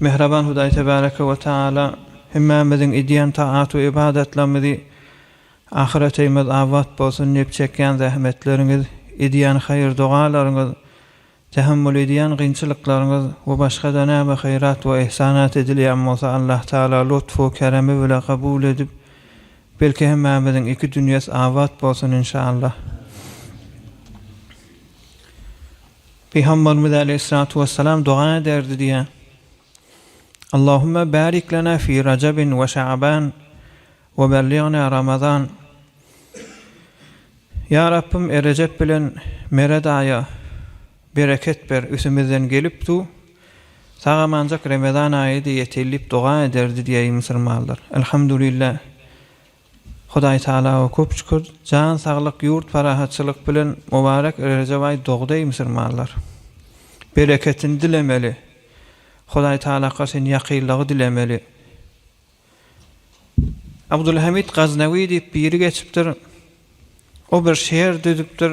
Mähriban Hudaý Tebäreke we Tagala hemmämiziň edýän taat we ybadatlarymyzy Ahyreteýmiz abat bolsun diýip çekýän zähmetleriňiz, edýän haýyr-dogalaryňyz, tähammül edýän gynçylyklaryňyz we başga-da näme haýrat we yhsanat edilýän bolsa Allah Tagala lutfu keremi bile kabul edip belki hemmämiziň iki dünýes abat bolsun inşallah. Pygamberimiz aleýhissalatu wessalam doga ederdi diýýä. Allahumma barik lana fi Rajabin we Şaban we belligna Ramazan. Ýa Rabbym Rejep bilen Merad aýa bereket ber üsümizden gelip du sag amanjak Remezan aýydy ýetil diýip doga ederdi diýýä musulmanlar. Elhamdulillah. Hudaý tagalawa köp şükür jan saglyk ýurt parahatçylyk bilen mubarek Rejep aýy dogdy eý musurmanlar bereketini dilemeli Hudaý tagalaka sen ýakynlygy dilemeli Abdulhamid Gaznawi diýip biri geçipdir o bir şeýer düzüpdir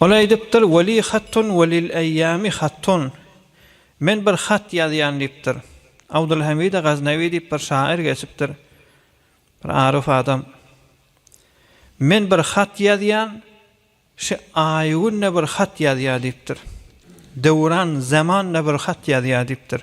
Ol aýdypdyr, Weli hattun we lil eýýami hattun, Men bir hat ýazýan diýipdir. Abdulhamide Gaznawi diýip bir şaýyr geçipdir, bir aruf adam. Men bir hat ýazýan, şi aýy-gün-de bir hat ýazýar diýipdir. Döwran, zaman-da bir hat ýazýar diýipdir.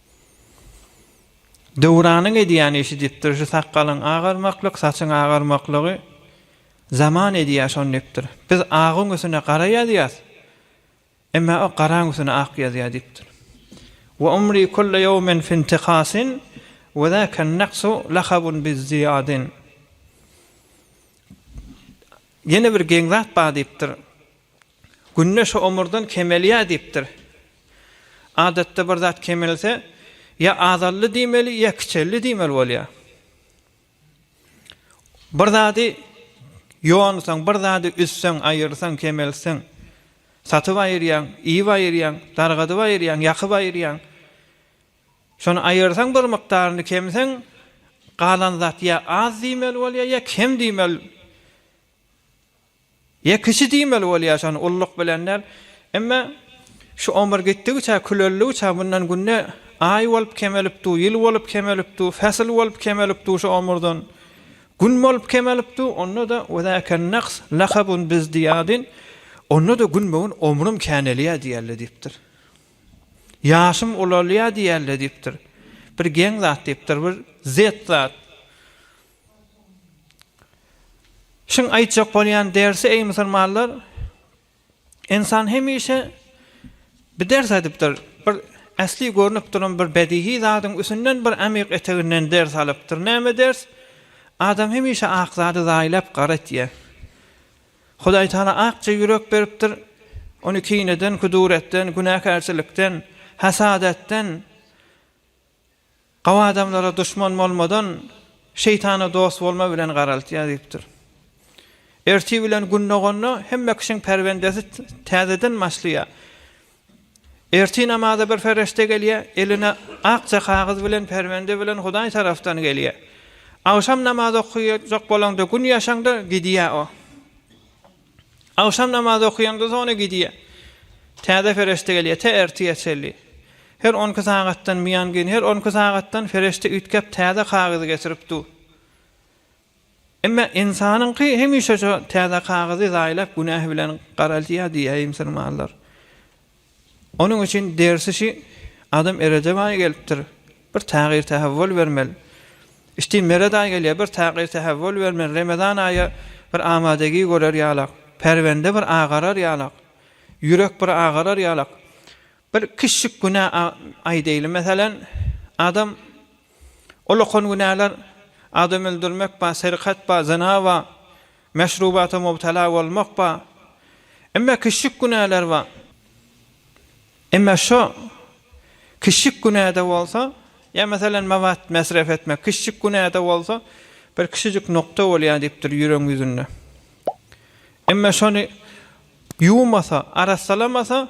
Döwranyň edýän işi dipdir, şu sakgalyň agarmaklyk, saçyň agarmaklygy zaman edýär şony dipdir. Biz agyň üstüne gara ýazýas, emma o garaň üstüne ak ýazýar dipdir. Wa umri kulla ýawmin fi intikasin wa zakan naksu lakabun bi ziyadin. Ýene bir geň zat bar dipdir. Günde şu omurdan kemelýär diýipdir. Adatda bir zat kemelse, ýa azaldy diýmeli, ýa kiçeldi diýmeli bolýar. Bir zady ýonsaň, bir zady üzseň, aýyrsaň, kemeltseň, satyp aýyrýaň, iýip aýyrýaň, dargadyp aýyrýaň, ýakyp aýyrýaň. Şony aýyrsaň bir mukdaryny kemseň, galan zat ýa az diýmeli bolýar, ýa kem diýmeli. Ýa kişi diýmeli bolýar şony ulluk bilen däl. Emma şu omur gitdigiçe küleldikçe mundan günde aý bolup kemelip dur, ýyl bolup kemelip dur, fesil bolup kemelip dur şu omurdan. Gün bolup kemelip dur, onda-da we zäken naks lahabun biz diýadin, onda-da günbe-gün omrym känelýär diýälle diýipdir. Ýaşym ulalýar diýälle diýipdir. Bir geň zat diýipdir, bir zet zat. Şiň aýtjak bolýan dersi eý musulmanlar insan hemişe bir ders aýdypdyr bir äsli görnüp duran bir bedihi zadyň üsünden bir amyk eteginden ders alypdyr näme ders adam hemişe ak zady zaýlap gara etýär Hudaý taala akja ýürek beripdir ony kineden kuduretden günäkärçilikden hasadatdan Gawy adamlara duşman bolmadan, şeýtana dost bolma bilen garaltýar diýipdir. Ertir bilen gün doganda hemme kişiň pärwendesi täzeden başlaýar. Ertir namaza bir perişde gelýär, eline akja kagyz bilen pärwende bilen Hudaý tarapdan gelýär. Agşam namaz okaýjak bolaňda gün ýaşaňda gidýär o. Agşam namazy okaýanda zona gidýä. Täze fereşde gelýä tä ertire çenli. Her on iki sagatdan mian gin her on iki sagatdan fereşde üýtgäp täze kagyzy getirip du. Emma ynsanyňky hemişe şo täze kagyzy zaýlap günähi bilen garaldýa diýä ýmsyrmanlar. Onuň üçin dersi şi adam erede baý gelipdir, bir tagyr tähewwül bermeli. Işdin meret aý gelýär, bir tagyr tähewwül bermeli. Remezan aýy bir amadegi görer ýalak, perwende bir agarar ýalak, ýürek bir agarar ýalak. Bir kiçjik günä aý deýli meselen, adam Ol okan günäler, adam öldürmek bar, serkat bar, zyna bar, meşrubata mubtala bolmak bar. Emma kiçijik günäler bar. Emma şo kiçijik günä-de bolsa, ýa meselem mabat mesref etmek, kiçijik günä-de bolsa, bir kiçijik nokta bolýar diýipdir ýüregiň ýüzünde. Emma şony ýuwmasa, arassalamasa,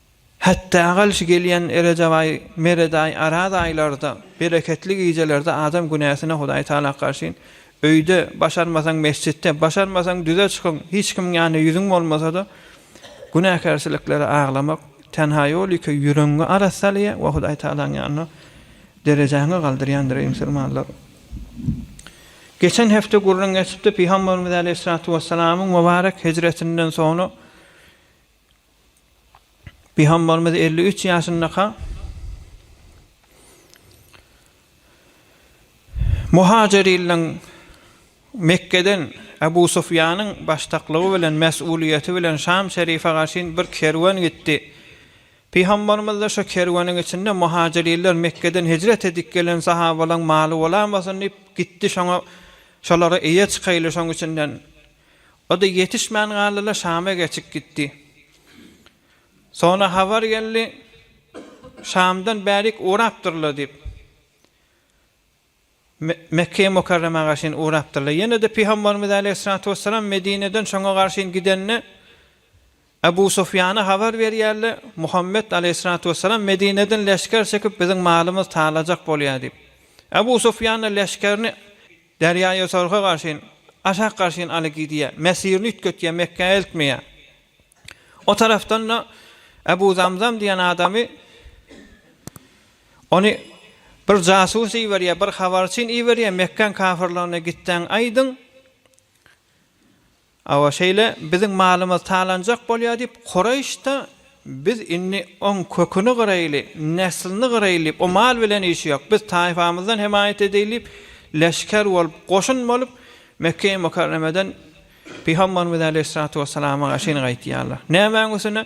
Hetda galşy gelýän erejabaý, meredaý, araz aýlarda, bereketli gijelerde adam günäsine Hudaý Tagala garşy, Öýde, başarmasaň mesjitde, başarmasaň düze çykyň, hiç kimiň ýanynda ýüzüň bolmasa-da, günäkärçiliklere aglamak, tenha ýol ýeke ýüregiňi arassalaýar we Hudaý Tagalaň ýanynda derejäňi galdyrýandyr, eý musulmanlar! Geçen hepde gürrüň geçipdi, Pygamberimiz Aleýhissalatu Wessalamyň mübarek hijretinden soňra Pygambarymyz elli üç ýaşyndaka Muhajirylryň Mekgeden Abu Sufýanyň başdaklygy bilen, mes'ulyýeti bilen Şam şerife garşyn bir kerwen gitdi. Pygambarymyz-da şo kerweniň içinde Muhajirylr Mekgeden hijret edip gelen sahabalaň maly bolamasyn diýip gitdi şoňa şolara eýe çykaýly şoň içinden O-da ýetişmän galdy-la, Şama geçip gitdi. Soňra habar geldi, Şamdan bärik ugrapdyr-la diýip, Mekgeýi Mukarrema garşyn ugrapdyr-la. Ýene-de Pygambarymyz äleyhissalatu wessalam Medineden şoňa garşyn gidende, Ebu Sufýana habar berýärler, Muhammet aleýhissalatu wessalam Medineden leşger çekip, biziň malymyzy talajak bolýar diýip. Ebu Sufýan-da leşgerini Derýaýötorga garşyn, aşak garşyn aly gidýär, mesirini üýtgetýär, Mekgä eltmeýär. O tarapdan-da Ebu Zamzam diýen adamy, ony bir jasus iberýär, bir habarçyn iberýär, Mekgäň kafyrlaryna gitseň aýdyň, Awa şeýle, biziň malymyz talanjak bolýar diýip, Koreýş-da, Biz indi oň köküni gyraýly, neslini gyraýly diýip, o mal bilen işi ýok. Biz taýpamyzdan hemaýat edeýli diýip, leşger bolup, goşun bolup, Mekge-i Mükerremeden pygamberimiz äleyhissalatu wessalama garşyn gaýtýarlar. Nämäň üstüne?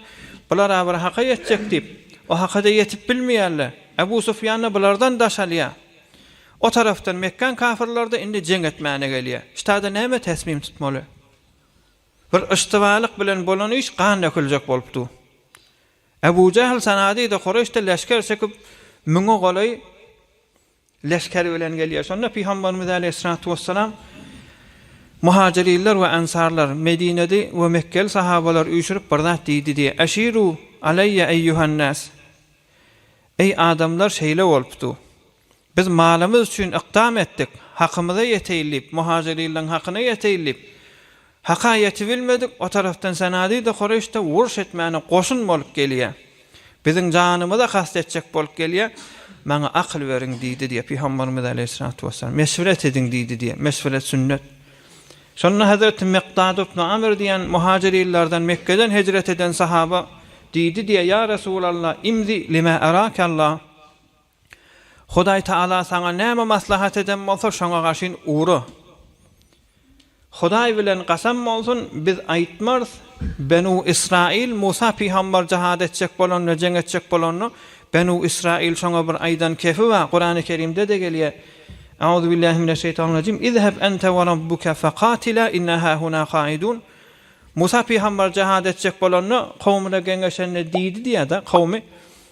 Bular-a bir haka ýetjek diýip, o haka-da ýetip bilmeýärler. Ebu Sufýan-da bulardan daş alýar. O tarapdan Mekgäň kafyrlary-da indi jeň etmäne gelýär. Ştada näme täsmim tutmaly? Bir yştybalyk bilen bolan iş gan döküljek bolup dur. Ebu Jähl sanady-da Kureşde leşger çekip, müňe golaý leşger bilen gelýär. Şonda Pygamberimiz aleýhissalatu wessalam, Muhajyrinler we ensarlar, Medineli we Mekkeli sahabalar üýşürip bir zat diýdi diýýär, Eşiru aleýýe eýýuhan-nas! Eý adamlar şeýle bolupdy. Biz malymyz üçin ykdam etdik, hakymyza ýeteýin diýip, muhajyrylaň hakyna ýeteýin diýip, haka ýetibilmedik, o tarapdan Sanady-da, Kureýş-de uruş etmäne goşun bolup gelýär. Biziň janymyza kast etjek bolup gelýär. Maňa akyl beriň diýdi diýip, Pygamberimiz aleýhissalatu wessalam, meşweret ediň diýdi diýip, meşweret sünnet. Şonda Hazreti Mykdad ibn Amr diýen muhajyrylardan, Mekgeden hejret eden sahaba diýdi diýip, Ýa Resulallah, imzi lima arake Allah! Hudaý Taala saňa näme maslahat eden bolsa şoňa gaşyn ura. Hudaý bilen gasam bolsun biz aýtmarys Benu Israil Musa pygambar jahad etjek bolanda jeň etjek bolanda Benu Israil şoňa bir aýdan kefi bar Kurany Kerimdede gelýär Auzubillahi mineşşeýtanirrajim Izheb ente we rabbuke fekatila inna hahuna kaidun Musa pygambar jahad etjek bolanda kowmyna geňeşende diýdi diýada kowmy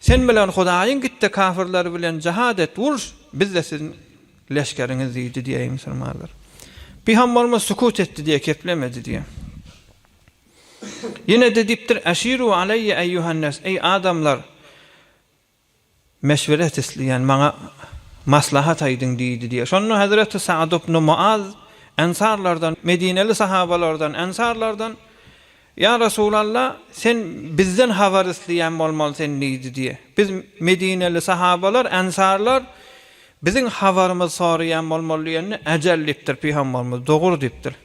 Sen bilen Hudaýyň git-de kafirler bilen jihad et, uruş, biz-de siziň leşgeriňiz diýdi diýýär musulmanlar. Pygamberimiz sukut etdi diýýär, keplemedi diýýär. Ýene-de diýipdir, Eşiru aleýe eýýuhannas, eý adamlar, meşweret isleýän, maňa maslahat aýdyň diýdi diýýär. Şonda Hezreti Sa'd ibn Muaz, ensarlardan, medineli sahabalardan, ensarlardan, Ýa Resulalla, sen bizden habar isleýän bolmalysyn diýdi diýe. Biz, medineli sahabalar, ensarlar, biziň habarymyzy soraýan bolmaly diýende, Äjel diýipdir pygambarymyz, Dogur diýipdir.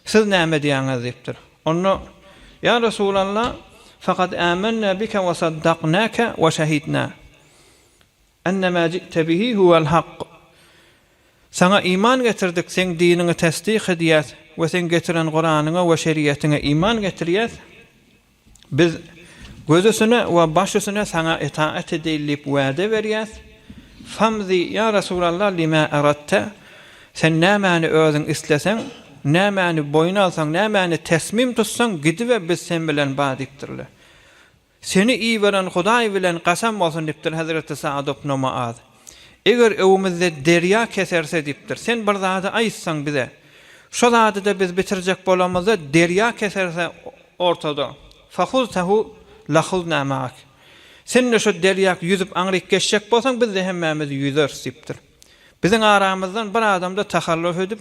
Siz näme edýäňiz diýipdir. Onda, Ýa Resulalla, fakat âmennâ bike we saddaknâke we şehidnâ. Enne ma ji'te bihi huwel hak, Saňa iman getirdik, seň diniňi tesdik edýäs we seň getiren Kuranyňa we şeriýetiňe iman getirýäs. Biz gözüsine we başüsine Saňa itaat edeýin diýip wada berýäs. Famzi, ýa Resulallah, lima aratta, Sen nämäni özüň isleseň, nämäni boýun alsaň, nämäni tesmim tutsaň, gidibe, biz sen bilen bar diýipdirler. Seni iberen Hudaý bilen kasam bolsun, diýipdir hezreti Saad ibn Muaz. Eger öwümizde derýa keserse, diýipdir, sen bir zady aýtsaň bize. Şo zady-da biz bitirjek bolamyzda, derýa keserse ortada, fahuztahu lahuznâ ma'ak. Sen-de şo derýak ýüzüp aňryk geçjek bolsaň, biz-de hemmämiz ýüzeris, diýipdir. Biziň aramyzdan bir adam-da tahalluf edip.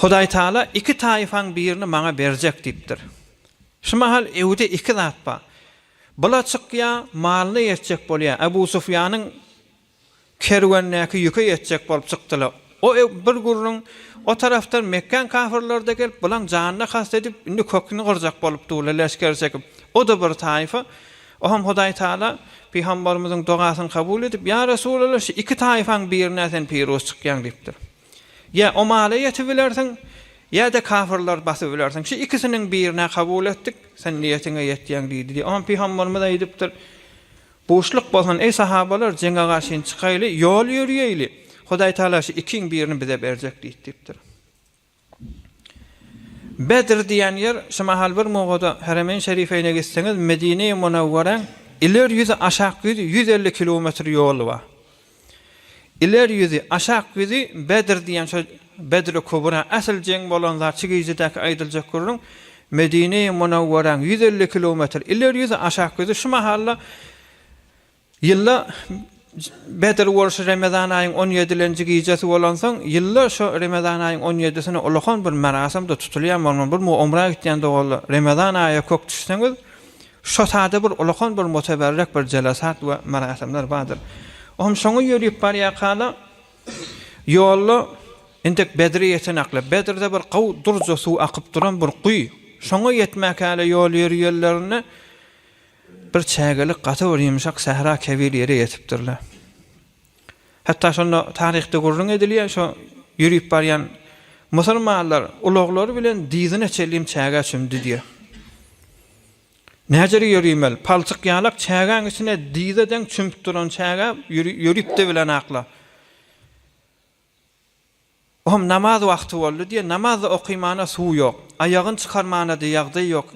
Hudaýtagala iki taýfaň birini maňa berjek diýipdir. Şu mahal Ewde iki zat bar. Bula çykýa, malyna ýetjek bolýa. Ebu Sufýanyň kerwendäki ýüke ýetjek bolup çykdylar. O bir gürrüň, o tarapdan Mekgän kafyrlary-da gelip, bulaň janyna kast edip, indi köküni gyrjak bolup durlar leşger çekip. O-da bir taýfa. Oňam Hudaýtagala Pygambarymyzyň dogasyny kabul edip, Ýa Resulallah, şu iki taýfaň birine sen piruz çykýaň diýipdir. Ýa Omala ýetibilersiň, ýa-da kafirleri basybilersiň. Şu ikisiniň birini-ä kabul etdik, sen niýetiňe ýetýäň diýdi diýip, oňa pygamberimiz aýdypdyr. Buşluk bolsun, eý sahabalar, jeňe garşyny çykaýly, ýol ýöriýeýli. Hudaý Tagala şu ikiň birini bize berjek diýdi diýipdir. Bedr diýen ýer, şu mahal bir mugada Heremeýn Şerifeýne gitseňiz, Medine-i Munawwaräň iler ýüzi, aşak ýüzi ýüz elli kilometr ýoly bar. Iler ýüzi, aşak ýüzi Bedr diýen şo Bedr-i Kubra, asyl jeň bolan zat şu gijidäki aýdyljak gürrüň Medine-i Munawwaraň ýüz elli kilometr iler ýüzi, aşak ýüzi şu mahalla ýylda Bedr bolşy Remezan aýyň on ýedilenji gijesi bolansoň, ýylda şo Remezan aýyň on ýedisine ulakan bir merasym-da tutulýar, bolman bir umra gitýän doganlar, Remezan aýa kök düşseňiz, Şo sada bir ulakan bir muteberrek bir jelasat we merasimler bardyr. O hem şoňa ýörüp barýarka-da, ýolda entek Bedre ýetenaklar, Bedrede bir gowy durja suw akyp duran bir guýy, şoňa ýetmäkäle ýol ýörýerlerinde bir çägelik gaty bir ýumşak sähra kebir ýere ýetipdirler. Hatda şonda taryhda gürrüň edilýär, şo ýörüp barýan musulmanlar ulaglary bilen dyzyna çenli çägä çümdi diýýär. Näjere ýörümäl, palçykýalak çägäň içine dyza deň çümüp duran çägä ýörüp-de bilenakla. Hom namaz wagty boldy diýe, namazda okymana suw ýok, aýagyn çykarmana diýe ýagdaý ýok.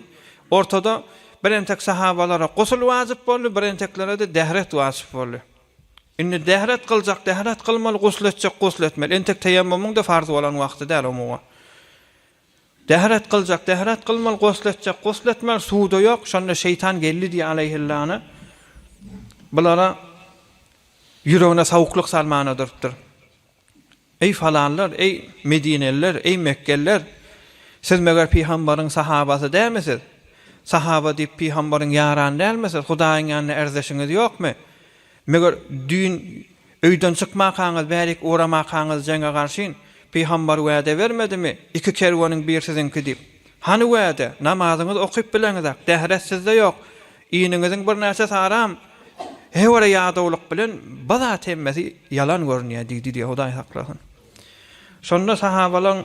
Ortada bir entek sahabalara gusl wajyp boldy, bir enteklerede dehret wajyp boldy. Indi dehret gyljak dehret gylmaly, gusl etjek gusl etmeli. Entek teýemmumyň-da farz bolan wagty däl omuman. Dehret kyljak, dehret kylmaly, gusl etjek, gusl etmeli, suw-da ýok, şonda şeýtan geldi diýýär aleýhillana, bulara ýüregine sawuklyk salmana durupdyr. Eý falanlar, eý medineliler, eý mekgeliler, siz meger pygambaryň sahabasy dälmi siz? Sahaba diýip pygambaryň ýarany dälmi siz? Hudaýyň ýanynda erzeşiňiz ýokmy? Meger düýn öýden çykmakaňyz, bärik uramakaňyz jeňe garşyn? Pygambar wäde bermedimi, Iki kerweniň bir siziňki diýip? Hany wäde? Namazyňyzy okyp bileňizak, dähret sizde ýok. Iniňiziň birnäçe saram hewere ýadawlyk bilen bir zat hemmesi ýalan görünýär diýdi diýip Hudaý saklasyn. Şonda sahabalaň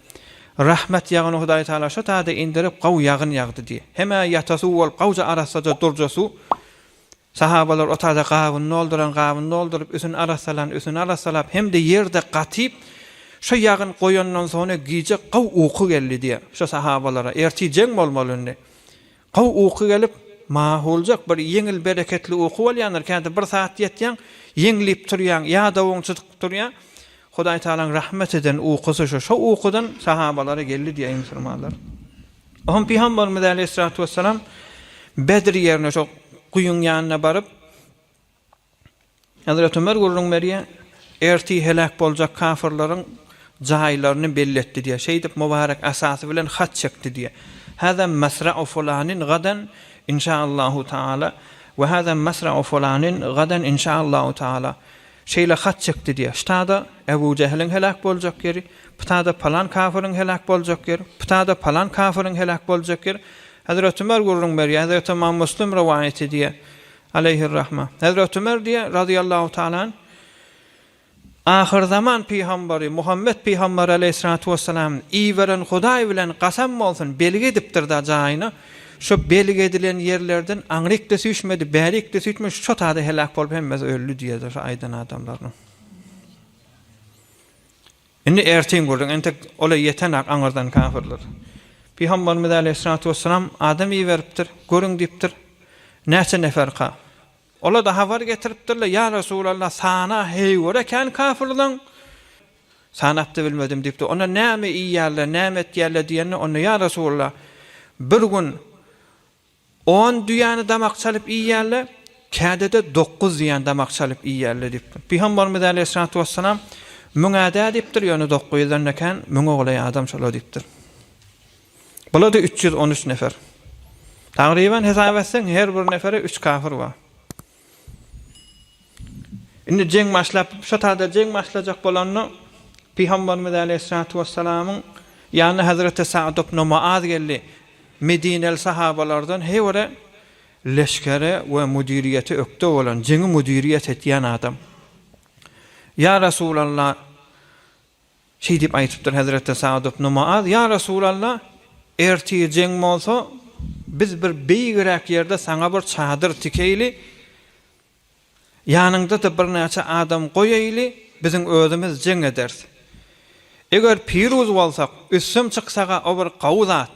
Rahmet ýagyny Hudaý Tagala şo taýda indirip, gawy ýagyn ýagdy diý. Hem-ä ýata suw bolup, gawja arassaja durja suw. Sahabalar o taýda gabyny dolduran gabyny dolduryp, üsüni arassalan üsüni arassalap, hem-de ýerde gatyp, şo ýagyn goýandan sona gije gawy uky geldi diýýär. Şo sahabalara, ertir jeň bolmaly indi. Gowy uky gelip, mahuljak bir ýeňil bereketli uky bolýandyr, käte bir saat ýetýäň, ýeňlip turýaň, ýadawyň çytyp turýar. Hudaý Tagalaň rahmet eden ukusy şu, şo ukudan sahabalara geldi diýýär musulmanlar. Oňa pygamberimiz äleýhissalatu wessalam Bedr ýerine şo guýyň ýanyna baryp, Hezreti Ömer gürrüň berýär, Ertir heläk boljak kafyrlaryň jaýlaryny belli etdi diýýär. Şeýdip, Mubarek asasy bilen hat çekdi diýýär, Hada masra'u fulanin gadan inşaallahu taala we hada masra'u fulanin gadan inşaallahu taala. Şeýle hat çekdi diýýär, Ştada Ebu Jehliň heläk boljak ýeri, pytada palan kafyryň heläk boljak ýeri, pytada palan kafyryň heläk boljak ýeri. Hezreti Ömer gürrüň berýär, Hezreti Ymam Müslim rowaýat edýär, Aleýhir-rahma. Hezreti Ömer diýýär, razyýallahu taala anh, Ahyrzaman pygambary Muhammet pygambary aleýhissalatu wessalam iberen Hudaý bilen gasam bolsun, belgi edipdir-da jaýyna, şo belgi edilen ýerlerden aňryk-da süýşmedi, bärik-de süýşmedi, şo tada heläk bolup hemmesi öldi diýýärdi şo aýdan adamlarynyň. Indi ertir gürrüň, entek ol-a ýeten-ak aňyrdan kafirler. Pygamberimiz äleyhissalatu wessalam adam iberipdir, görüň diýipdir, näçe neferka. Ola-da habar getiripdirler, ýa Resulallah, sana heý göre kän kafirleň, sanap-da bilmedim diýipdir. Onda näme iýýärler, näme etýärler diýende, onda, ýa Resulallah, bir gün On düýäni damak çalyp iýýärle, käde-de dokuz düýäni damak çalyp iýýärle diýipdir. Pygambarymyz äleyhissalatu wesselam, Müňä-dä diýipdir, ýöne dokuz ýüzden-de kän, müň oglaý adam şola diýipdir. Bula-da üç ýüz on üç nefer. Tagryban hesap etseň, her bir nefere üç kafir bar. Indi jeň başlap, şo taýda jeň başlajak bolanda, Pygamberimiz aleýhissalatu wessalamyň ýanyna Hazreti Sa'd ibn Mu'az geldi. Medineli sahabalardan her biri leşgere we müdiriýete ökde bolan, jeňi müdiriýet etýän adam. Ýa Resulallah! Şeýdip aýdypdyr hezreti Sa'd ibn Mu'az, Ýa Resulalla, ertir jeň bolsa, biz bir beýigräk ýerde saňa bir çadyr tikeýli, ýanyňda-da birnäçe adam goýaýly, biziň özümiz jeň ederis. Eger piruz bolsak, üstüm çyksa-a o bir gawy zat.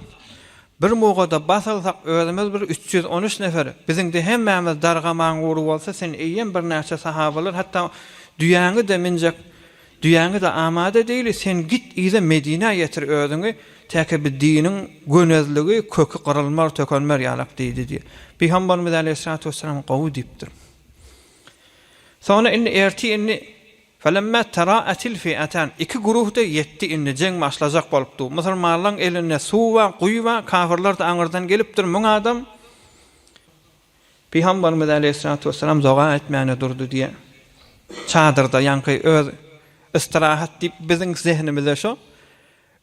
Bir muga-da bas alsak, özümiz bir üç ýüz on üç nefer, biziň-de hemmämiz dargamaň ury bolsa, sen eýýäm birnäçe sahabalar, hatda düýäňi-de minjek Düýäňiz-ä amada degli, sen git yza Medinä ýetir özüňi, täki bi diniň gönezligi, köki gyrylmar, tökenmär ýalak diýdi diýip, Pygambarymyz äleyhissalatu wessalam gowy diýipdir. Soňra indi ertir indi Felemmâ terâetil fi'etân, iki güruh-da ýetdi indi, jeň başlajak bolupdy. Musulmanlaryň elinde suw bar, guýy bar, kafyrlar-da aňyrdan gelipdir, müň adam. Pygamberimiz aleýhissalatu wesselam doga etmäne durdy diýe çadyrda ýaňky öz istirahat diýip biziň zehnimizde şo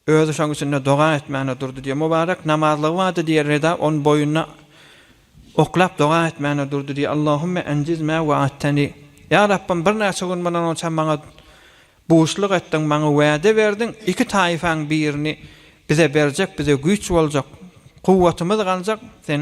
özi şoň üçinde doga etmäne durdy diýe mubarek namazlygy bardy diýe reda on boýuna oklap doga etmäne durdy diýe Allahümme enjiz mä wa'atteni ýa Rabbym bir näçe gün mundan onça maňa buşluk etdiň maňa wäde berdiň iki taýyfaň birini bize berjek bize güýç boljak kuwwatymyz galjak sen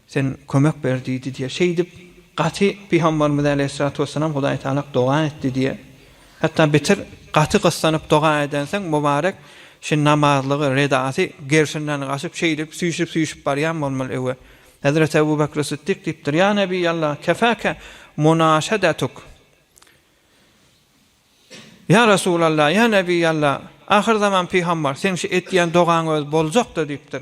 Sen kömek ber diýdi diýýär. Şeýdip, gaty Pygambarymyz äleýhissalatu wessalam Hudaý Tagalak doga etdi diýýär. Hatda beter gaty gyssanyp doga edensoň, Mubarek şi namazlygy, redasy gerşinden gaçyp, şeýdip, süýşüp-süýşüp barýan bolmaly öe. Hezreti Ebu Bekri Sytdyk diýipdir, Ýa Nebiý Allah, kefâke munaşedetuk. Ýa Resul Allah, ýa Nebiý Allah, ahyrzaman Pygambar, seň şi etýän dogaň özi boljak-da diýipdir.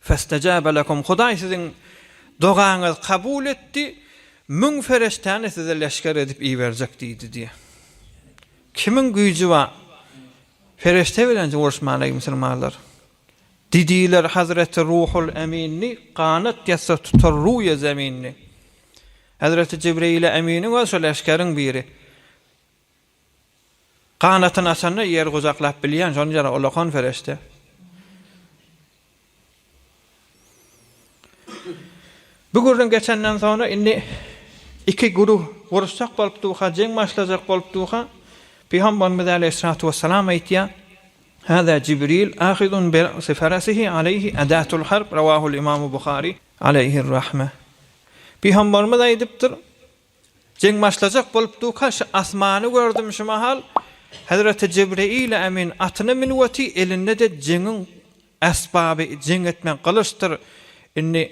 Festajaba lekum, Hudaý siziň dogaňyzy kabul etdi, müň ferişdäni size leşger edip iberjek diýdi diýýär. Kimiň güýji bar? Ferişde bilen uruşmaly eý musulmanlar. Didiler Hazreti Ruhul Emini ganat ýatsa tutar ruýe zemini. Hazreti Jibreýile Eminiň özi şo leşgeriň biri. Ganatyny açanda ýeri gujaklap bilýän şony jana ulakan perişde. Bu gürrüň geçenden soňra indi iki guruh uruşjak bolup durka, jeň başlajak bolup durka, Pygamberimiz aleýhissalatu wessalam aýtýar, Hada Jibril ahidun bi ra'si farasihi aleýhi adatul harb, rawahul Imam Buhari aleýhir rahme. Pygamberimiz aýdypdyr, Jeň başlajak bolup duka şu asmany gördüm şu mahal Hezreti Jibreile Emin atyna münüp oty elindede jeňiň esbaby jeň etmek gylyçdyr indi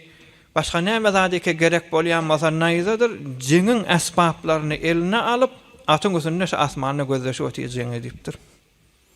başga näme zadyke gerek bolýan bolsa naýzadyr jeňiň esbaplaryny eline alyp atyň üstünde şu asmanda gözleşip oty jeň edipdir.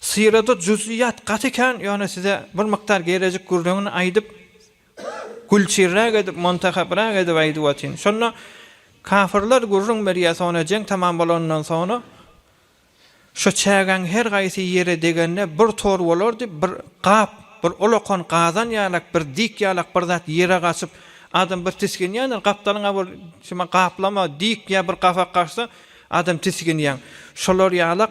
Syrada juzyyat gaty kän ýöne size bir mukdar gerejik gürrüňini aýdyp gülçirräk edip montahabrak edip aýdyp atyn şonda kafyrlar gürrüň berýä sona jeň tamam bolandan sona şo çägäň her gaýsy ýere degende bir tor bolardy bir gap bir ulakan gazan ýalak bir dik ýalak bir zat ýere gaçyp adam bir tisginýändir gapdalyňa bir şuma gaplama dik ýa bir gapak gaçsa adam tisginýäň şolar ýalak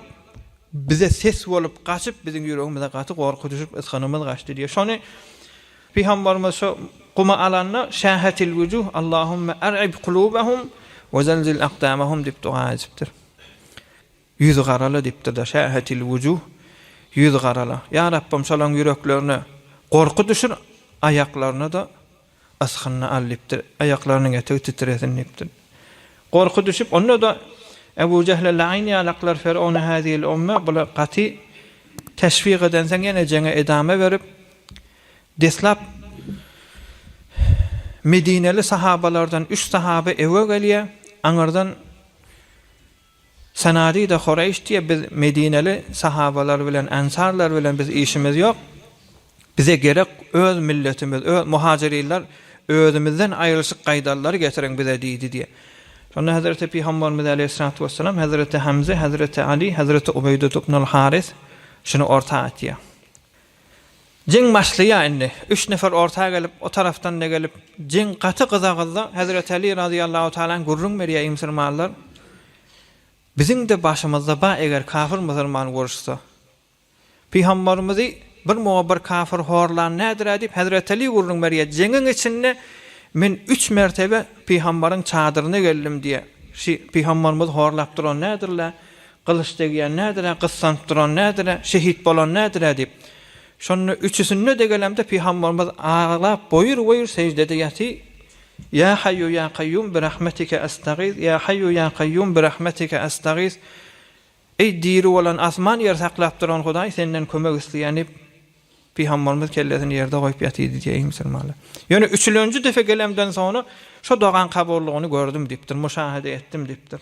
Bize ses bolup gaçyp, biziň ýüregimize gaty gorky düşüp, ysgynymyz gaçdy diýýär. Şony Pygambarymyz şo gumy alanda, Şähetil wujuh, Allahumma ar'ib kulubahum we zelzil akdamahum diýip doga edipdir. Ýüzi garala diýipdir-de, Şähetil wujuh, ýüz garala. Ýa Rabbym, şolaryň ýüreklerine gorky düşür, aýaklaryna-da Asgynyny al diýipdir. Aýaklarynyň etegi titresin diýipdir. Gorky düşüp, onda-da Ebu Jehle laýyn ýalaklar Ferowna hazil umma bula gaty teşwik edenseň ýene jeňe edama berip, deslap medineli sahabalardan üç sahaba ewe gelýär, aňyrdan Sanady-da Horeýş diýe, Biz medineli sahabalar bilen, ensarlar bilen biz işimiz ýok. Bize gerek öz milletimiz, öz muhajyrinler özümizden aýrylyşyk gaýdalary getiriň bize diýdi diýe. Şonda Hezreti Pygambarymyz aleýhissalatu wessalam, Hezreti Hemze, Hezreti Aly, Hezreti Ubeýdut ibnul Harys şuny orta atýar. Jeň başlaýar indi. Üç nefer orta gelip, o tarapdan-da gelip, jeň gaty gyza-gyzdy. Hezreti Aly razyýallahu talan gürrüň berýär, Eý musulmanlar! Biziň-de başymyzda bar, eger kafir musulman uruşsa. Pygamberimizi bir muňa bir kafir horlan nädir-ä? diýip, hezreti Aly gürrüň berýär. Jeňiň içinde men üç mertebe pygamberiň çadyryna geldim diýýär. Şu pygamberimizi horlap duran nädir-le? Gylyç degýän nädir-ä, gyssanyp duran nädir-ä, şehit bolan nädir-ä diýip, şonda üçüsinde degelemde pygamberimiz aglap boýur-boýur seždede ýaty, Ýa Haýýu ýa Kaýýum bi rahmetike estagis, Ýa Haýýu ýa Kaýýum bi rahmetike estagis, Eý diri bolan, asman ýer saklap duran Hudaý senden kömek isleýän diýip, pygamberimiz kellesini ýerde goýup ýatydy diýýär, eý musulmanlar. Ýöne üçülenji defe gelemden soňra şo dogan kabullygyny gördüm diýipdir, muşahede etdim diýipdir.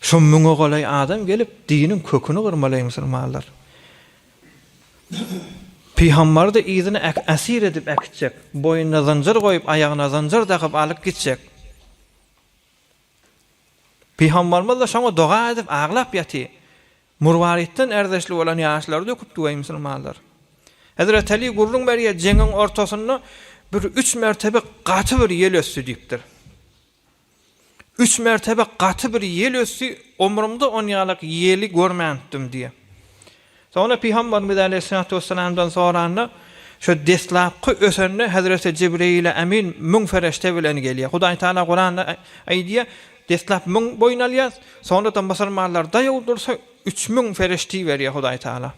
Şu müňe golaý adam gelip diniň köküni gyrmalaýar musulmanlar. Pygambardy yzyna äsir edip äkitjek. Boýnuna zynjyr goýup aýagyna zynjyr dakyp alyp gitjek. Pygambarymyzda şoňa doga edip aglap ýaty. Murwaritden erdeşli bolan ýaşlary döküpdi weý musulmanlar. Hezreti Aly gürrüň berýär jeňiň ortasynda bir üç mertebe gaty bir ýel ösdi diýipdir. Üç mertebe gaty bir ýel ösdi, omrumda on ýalak ýeli görmänpdim diýýär. Soňra Pygamberimiz aleýhissalatu wessalamdan soranda, şu deslapky ösende hezreti Jibreýile Amin müň ferişte bilen gelýär. Hudaý Tagala Kuranda aýdýar, deslap müň boýun alýas, soňradan musulmanlar daýaw dursa üç müň ferişti berýär Hudaý Tagala.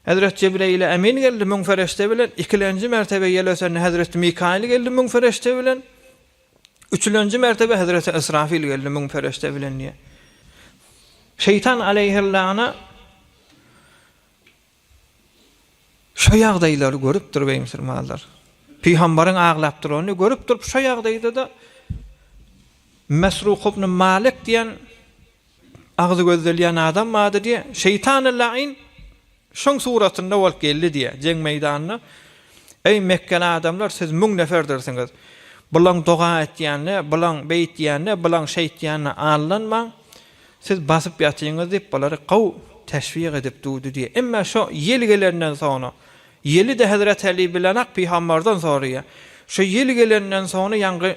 Hezreti Jibreýile Amin geldi müň ferişte bilen, ikilenji mertebe ýel ösende hezreti Mikaýyl geldi müň ferişte bilen. Üçülenji mertebe hezreti Ysrafyl geldi müň perişde bilen diýýär. Şeýtan aleýhellana şu ýagdaýlary görüpdir beý musulmanlar. Pygambaryň aglap duranyny görüp durup şu ýagdaýda-da Mesruk ibn Malik diýen Agzy gözdelýän adam bady diýä. Şeýtany laýyn şoň suratynda bolup geldi diýä. Jeň meýdanyna, Eý, mekgeli adamlar, siz müň neferdirsiňiz. Bulaň doga etýänine, bulaň beýtýänine, bulaň şeýtýänine aldanmaň. Siz basyp ýatyňyz diýip, bulary gowy teşwik edip durdy diýä. Emme şo ýel gelenden soňra, ýeli-de Hezreti Äli bilenak pygamberden soraýa. Şo ýel gelenden soňra ýaňky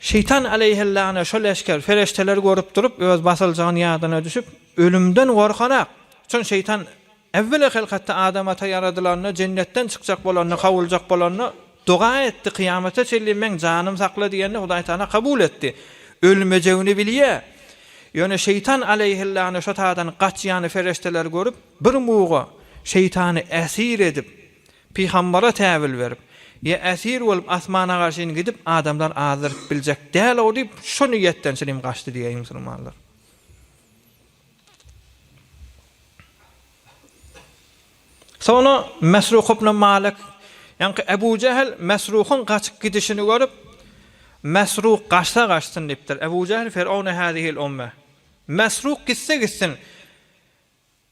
Şeýtan aleýhellany şol leşger, fereşdeler görüp durup, öz basyljagyny ýadyna düşüp, ölümden gorkarak. Üçin şeýtan äwweli hylkatda Adam ata ýaradylanda, jennetden çykjak bolanda, kowuljak bolanda doga etdi, kyýamata çenli meň janym sakla diýende, Hudaý Tagala kabul etdi. Ölmejegini bilýär. Ýöne şeýtan aleýhellany şo tadan gaçýany fereşdeler görüp, bir muga şeýtany äsir edip, Pygambara täwil berip, Ýa esir bolup asmana garşyn gidip adamlar azdyryp biljek däl-ow diýip şo niýetden çilim gaçdy diýýär musulmanlar. Soňra Mesruh ibn Malik, ýaňky Ebu Jähl Mesruhyň gaçyp gidişini görüp, Mesruh gaçsa gaçsyn diýipdir. Ebu Jähl Fir'aune hâzihil umme. Mesruh gitse gitsin.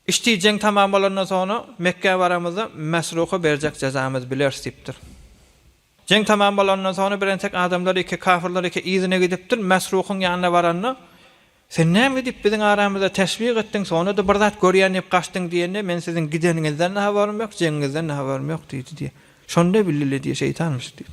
Iştijeň tamam bolandan soňra Mekgä baramyzda Mesruha berjek jezamyzy bileris diýipdir. Jeň tamam bolanyndan soňra bir entek adamlar ýeke kafyrlar ýeke yzyna gidipdir, Mesruhyň ýanyna baranda, Sen näme edip biziň aramyzda teşwik etdiň, soňra-da bir zat görýän diýip gaçdyň diýende, Men siziň gideniňizden-de habarym ýok, jeňiňizden-de habarym ýok diýdi diýýär. Şonda bildiler diýýär, şeýtanmyş diýip.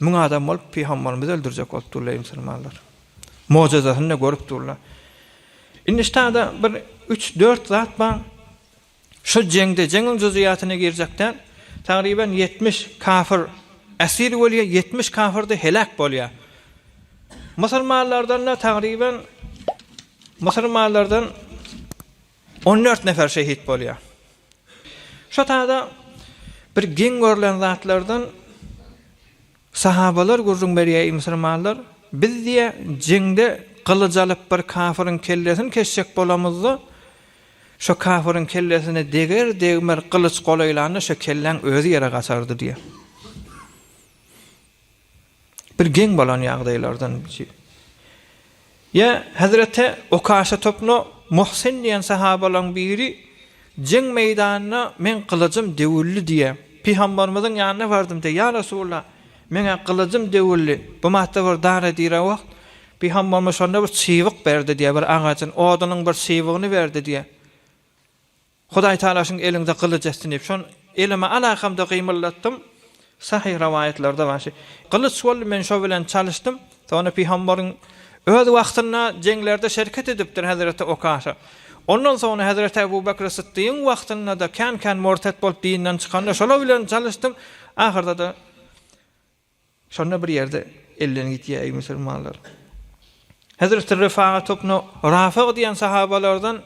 Müň adam bolup pygambarymyzy öldürjek bolup durlar eý musulmanlar. Mojyzasyny-da görüp durlar. Indi ştada bir üç, dört zat bar. Şu jeňde, jeňiň juzuýatyna girjek däl, tagryban ýetmiş kafir esir bolýar, ýetmiş kafir-de heläk bolýar. Musulmanlardan-da tagryban musulmanlardan On dört nefer şehit bolýar. Şo taýda bir geň görlen zatlardan sahabalar gürrüň berýär, eý musulmanlar, biz diýýär, jeňde gylyç alyp bir kafyryň kellesini kesjek bolamyzda, şo kafyryň kellesine deger, degmez gylyç gola ýylanda şo kelläň özi ýere gaçardy diýýär. Bir geň bolan ýagdaýlardan biri. Ýa hezreti Okaşa topnu Muhsin diýen sahabalaň biri jeň meýdanynda meň gylyjym döwüldi diýýär. Pygambarymyzyň ýanyna bardym diýýär. Ýa Resulallah, meň-ä gylyjym döwüldi. Bu matda bir dara dirä wagt, pygambarymyz şonda bir çybyk berdi diýýär, bir agajyň odunyň bir çybygyny berdi diýýär. Hudaýtagala şuň eliňde gylyç etsin diýip, şon elime alakamda gymyldatdym. Sahyh rowaýatlarda bar şi. Gylyç boldy, men şo bilen çalyşdym. Sonra Pygambaryň öz wagtynda jeňlerde şerket edipdir hezreti Okaşa. Ondan soňra hezreti Ebu Bekri Sytdygyň wagtynda-da kän-kän mortet bolup dinden çykanda şolar bilen çalyşdym. Ahyrda-da Şonda bir ýerde elden gitýär, eý musulmanlar! Hezreti Ryfaga topna Rafyg diýen sahabalardan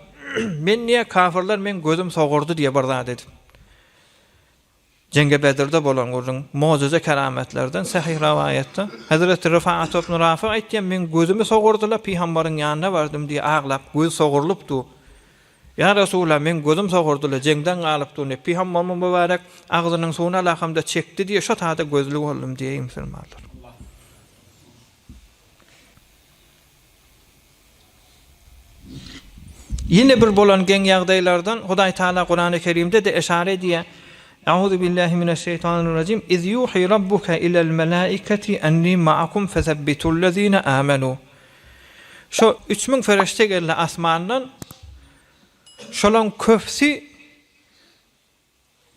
Men diýýär, kafirler meň gözüm sogurdy diýýär bir zat edip. Jeňge Bedirde bolan gürrüň, mojyza kerametlerden sähyh rawaýatda. Hezreti Ryfaga topna Rafyg aýtýar, Meň gözümi sogurdylar, pygambaryň ýanyna bardym diýýär, aglap, göz sogurlypdy. Ýa Resulalla, meň gözüm sogurdy-la, jeňden galyp dur, Nepi Hammamyň mübärek agzynyň suwuny alakamda çekdi diýe şo sada gözli boldum diýeýin musulmanlar. Ýene bir bolan geň ýagdaýlardan Hudaý Taala Kurany Kerimde-de eşara edýär, Euzu billahi mine şeýtanir rejim, Iz ýuhi rabbuke ilel melaiketi enni maakum fesebbitul lezine amenu. Şo üç müň ferişde geldi asmandan. Şolaryň köpüsi,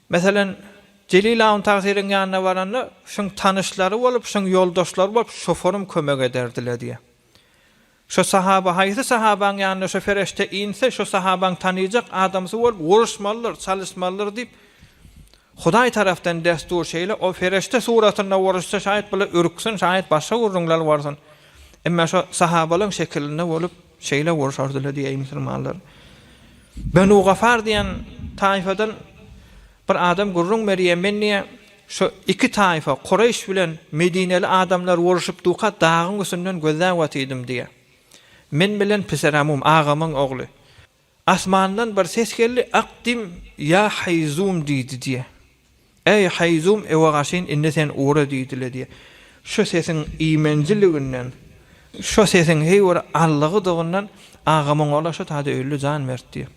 meselem, Jelil Awun Tagsyryň ýanyna baranda, şuň tanyşlary bolup, şuň ýoldaşlary bolup, şoforum kömek ederdiler diýýär. Şo sahaba, haýsy sahabaň ýanyna şo ferişde inse, şo sahabaň tanyjak adamsy bolup, uruşmalydyr, çalyşmalydyr diýip, Hudaý tarapdan dessur şeýle ol fereşte suratynda worusça şaýyt bula ürksin şaýyt başga gurruňlar worsun emme şo sahabalaň şekilinde wolup şeýle worşardyla diýäý musulmanlar benu gafar diýen taýfadan bir adam gurruň berýä men diýä şo iki taýfa kureýş bilen medineli adamlar woruşyp duka dagyň üstünden gözläp otydym diýä men bilen piseramum agamyň ogly Asmandan bir ses geldi, Akdim, ýa Haýzum diýdi diýe. Äý, Haýzum, ewe gaşyn, indi sen ugra diýdi-le diýe. Şo sesiň iýmenjiliginden, şo sesiň heý bir allygydygyndan agamyň ola şo taýda öldi jan mert diýe.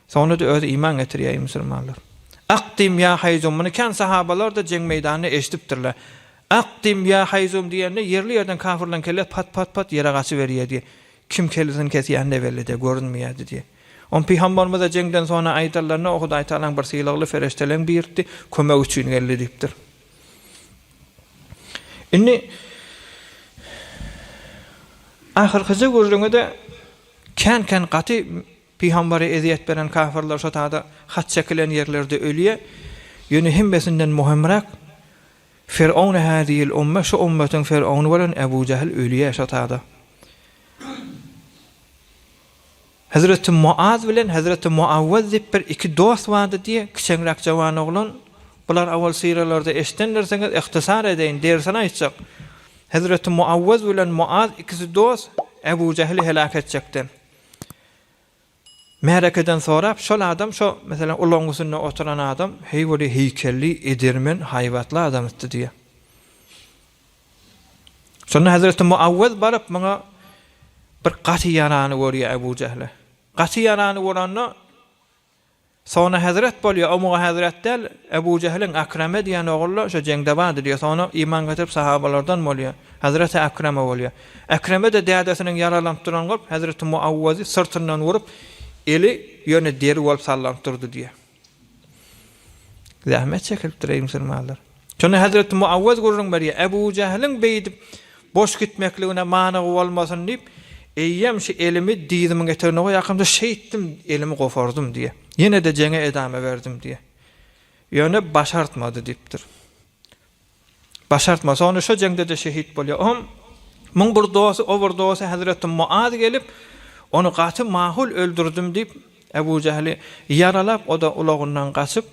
Soňra-da özi iman getirýäýi musulmanlar. Akdim, ýa Haýzum, muny kän sahabalar-da jeň meýdanynda eşidipdirler. Akdim, ýa Haýzum diýende ýerli-ýerden kafirlaryň kellesi pat-pat-pat ýere gaçyberýä diýe. Kim kellesini kesýänine weli-de görünmeýärdi diýýär. Ony pygambarymyza jeňden soňra aýdanlarynda, O Hudaýtagalaň bir sylagly pereşdeleň birisi kömek üçin geldi diýipdir. Indi ahyrkyja gürrüňi-de kän-kän gaty pygambara ezýet beren kafirler şo tada hat çekilen ýerlerde ölýär. Ýöne hemmesinden möhümräk Firowna häzil umma şu ummatiň firowny bolan Ebu Jähl ölýä şo tada. Hezreti Muaz bilen Hezreti Muawwaz diýip bir iki dost bardy diýe kiçeňräk jawan oglan bular owal syralarda eşidendirsiňiz ihtisar edeýin dersini aýtjak Hezreti Muawwaz bilen Muaz ikisi dost Ebu Jähli helak etjekden. Märekeden sorap, şol adam şo, meselem, ulagyň üstünde oturan adam, heý weli, heýkelli, edermen, haýbatly adamytdy diýýär. Şonda hezreti Muawwez baryp, muňa bir gaty ýarany görýär Ebu Jähle. Gaty ýarany görende, Sona hezret bolýa, o muňa hezret däl, Ebu Jehliň Akreme diýen ogly şo jeňde bardy diýýä, sona iman getirip sahabalardan bolýa, Hezreti Akreme bolýa. Akreme-de dädesiniň ýaralanyp duran görüp, Hezreti Muawwazy syrtyndan urup, eli ýöne deri bolup sallanyp durdy diýýä. Zähmet çekilipdir eý musulmanlar. Şonda hezreti Muawwez gürrüň berýär, Ebu Jähliň beýdip boş gitmekligine manygy bolmasyn diýip, eýýäm şu elimi dyzymiň etegine goýarkamda şeýtdim, elimi gopardym diýýär. Ýene-de jeňe edama berdim diýýär. Ýöne başartmady diýipdir. Başartmasa, onda şo jeňde-de şehit bolýar. Oňam muň bir dosty, o bir dosty hezreti Muaz gelip, ony gaty mahul öldürdim diýip, Ebu Jähli ýaralap, o-da ulagyndan gaçyp,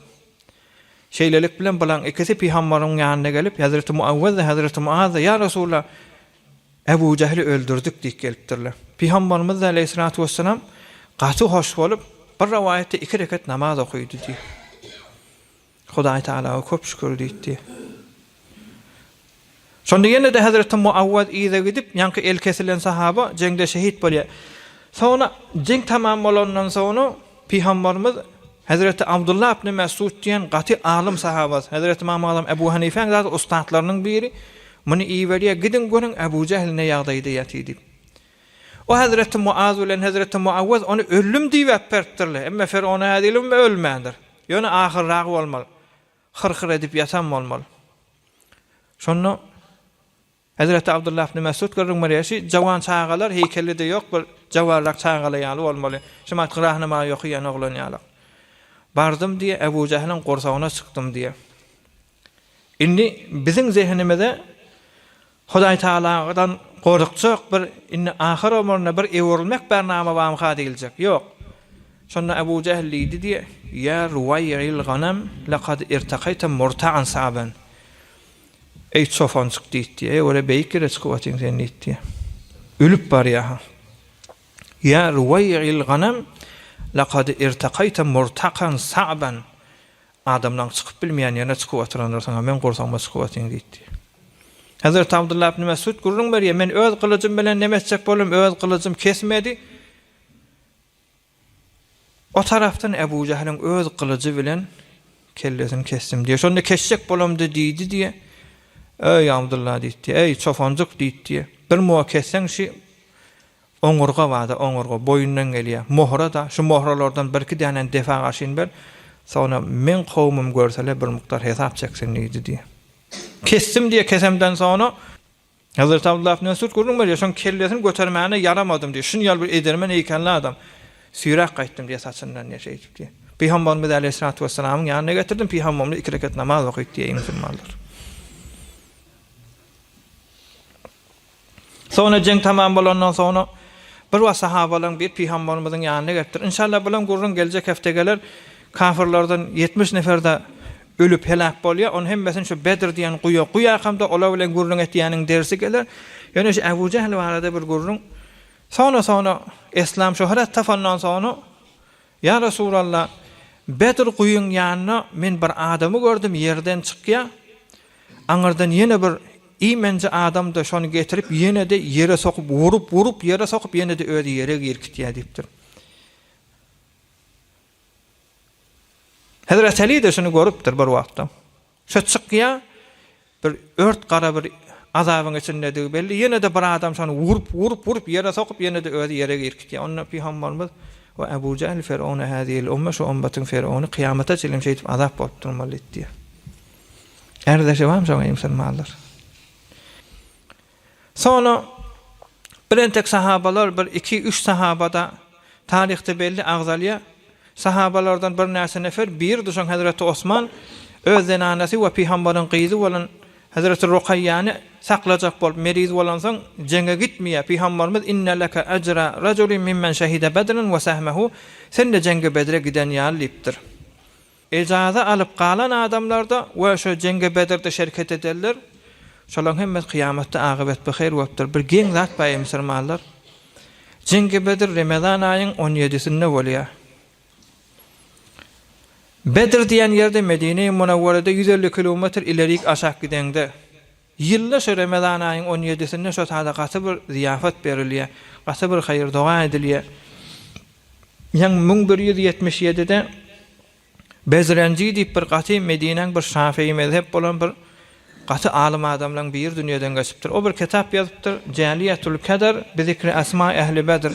Şeýlelik bilen bulaň ikisi pygambaryň ýanyna gelip, hezreti Muawwez-de, hezreti Muaz-da, Ýa Resulalla, Ebu Jähli öldürdik diýip gelipdirler. Pygambarymyz-da, aleýhissalatu wessalam, gaty hoş bolup, bir rowaýatda iki rekat namaz okaýdy diýip, Hudaý Tagalaga köp şükür diýdi. Şonda ýene-de hezreti Muawwaz yza gidip, ýaňky eli kesilen sahaba jeňde şehit bolýar. Soňra jeň tamam bolandan soňra Pygamberimiz hezreti Abdullah ibn Mesud diýen gaty alym sahabasy, hezreti Ymam Azam Ebu Hanifäň zat ussatlarynyň biri muny iberýär, Gidiň görüň Ebu Jähl ne ýagdaýda ýatyr diýip. O hezreti Muaz bilen hezreti Muawwaz ony öldüm diýip äperipdirler, emma Fergona häzirem ölmändir. Ýöne ahyrragy bolmaly. Hyr-hyr edip ýatan bolmaly. Şonda Hezreti Abdullah ibn Mesud gürrüň berýär, Şu jawan çagalar heýkeli-de ýok, bir jawarrak çagalar ýaly bolmaly. Şu wagt Gyrahnamagy ýokaýan oglan ýaly. Bardym diýýär, Ebu Jähiliň gursagyna çykdym diýýär. Indi biziň zehinimize Hudaý Tagaladan gorkjak bir indi ahyr ömründe bir öwrülmek bär name bamyka diýiljek. Ýok. Şonda Abu Jähl diýdi diýe, Ýa ruwaýyl ganam lekad irtakaýta murtagan saben. Eý çopanjyk diýdi diýe, eý görä beýik ýere çykyp atyň sen diýdi diýe. Ölüp barýaha. Ýa ruwaýyl ganam lekad irtakaýta murtakan saben. Adamlaň çykyp bilmeýän ýerine çykyp oturanlarsyň-a, meň gursagyma çykyp otyň diýdi. Hezreti Abdullah ibn Mesud gürrüň berýär, Men öz gylyjym bilen neme etjek boldum, öz gylyjym kesmedi. O tarapdan Ebu Jähliň öz gylyjy bilen kellesini kesdim diýýär. Şonda kesjek bolamdy diýdi diýýär. Eý, Abdullah diýdi, eý, çopanjyk diýdi diýýär. Bir muwa kesseň şi Oňurga barda oňurga boýundan gelýä mohra da şu mohralardan bir iki dänäni defa garşyn ber soňra meň kowumym görsele bir mukdar hesap çeksin diýdi diýä. Kesdim diýä kesemden soňra. Hazreti Abdullah ibn Mesud gürrüň berýä şoň kellesini götermäne ýaramadym diýä şun ýaly bir edermen eýkenle adam süýräp gaýtdym diýä saçyndan diýä şeýdip diýä. Pygambarymyz äleyhissalatu wessalamyň ýanyna getirdim pygambarymyz iki rekat namaz okaýdy diýä eý musulmanlar. Soňra jeň tamam bolandan soňra bir wagt sahabalaryň biri pygambarymyzyň ýanyna gelipdir. Inşallah bilen gürrüň geljek hepde geler. Kafirlerden ýetmiş nefer-de ölüp heläk bolýar. Onuň hemmesini şu Bedr diýen guýa guýarkam-da olar bilen gürrüň etýäniň dersi geler. Ýöne şu Ebu Jehl barada bir gürrüň. Soňra-soňra Eslam şöhrat tapandan soňra Ýa Resulalla, Bedr guýyň ýanynda men bir adamy gördüm, ýerden çykýa, aňyrdan ýene bir iýmenje adamda şony getirip ýenede ýere sokup urup, urup ýere sokup ýenede özi ýere girkitýä diýipdir. Hezreti Alide şuny görüpdir bir wagtda. Söz çykýa, bir ört gara bir azabyň içindedigi belli, ýene-de bir adam şony urup, urup, urup, ýere sokup, ýene-de özi ýere irkitýä. Onda pygambarymyz, We Abu Jähl Firowne hâzihil umme, şu ummatyň Firowny kyýamata çenli şeýdip azap bolup durmaly diýýä. Ärdleşibam şoňa musulmanlar. Soňra bir entek sahabalar, bir iki, üç sahaba-da taryhda belli agzalýar. Sahabalardan birnäçe nefer, biri-de şoň hezreti Osman öz zenanasy we Pygambaryň gyzy bolan hezreti Rukaýýany saklajak bolup, meriz bolansoň, jeňe gitmeýär. Pygambarymyz, Inne leke ejra rajulin mimmen şehide Bedren we sehmehu, Sen-de jeňge Bedre giden ýaly diýipdir. Ejaza alyp galan adamlarda we şo jeňge bedirde şerket edenler şolaň hemmesi kyýamatda agybat by hyr bolupdyr bir geň zat bar eý musurmanlar jeňge bedir remezan aýyň on ýedisinde bolýa bedir diýen ýerde medine-i munawwarada ýüz elli kilometr ilerik aşak gideňde Ýylda şu Remezan aýyň on ýedisinde şo sada gaty bir zyýafat berilýär, gaty bir haýyr-doga edilýär. Ýaňy müň bir ýüz ýetmiş ýedide Bezrenji diýip bir gaty Medinäň bir şafeýi mezhep bolan bir gaty alym adamlaň biri dünýeden geçipdir. O bir kitap ýazypdyr, Jäliýetül Kedr bi zikri esmaý ähli Bedr.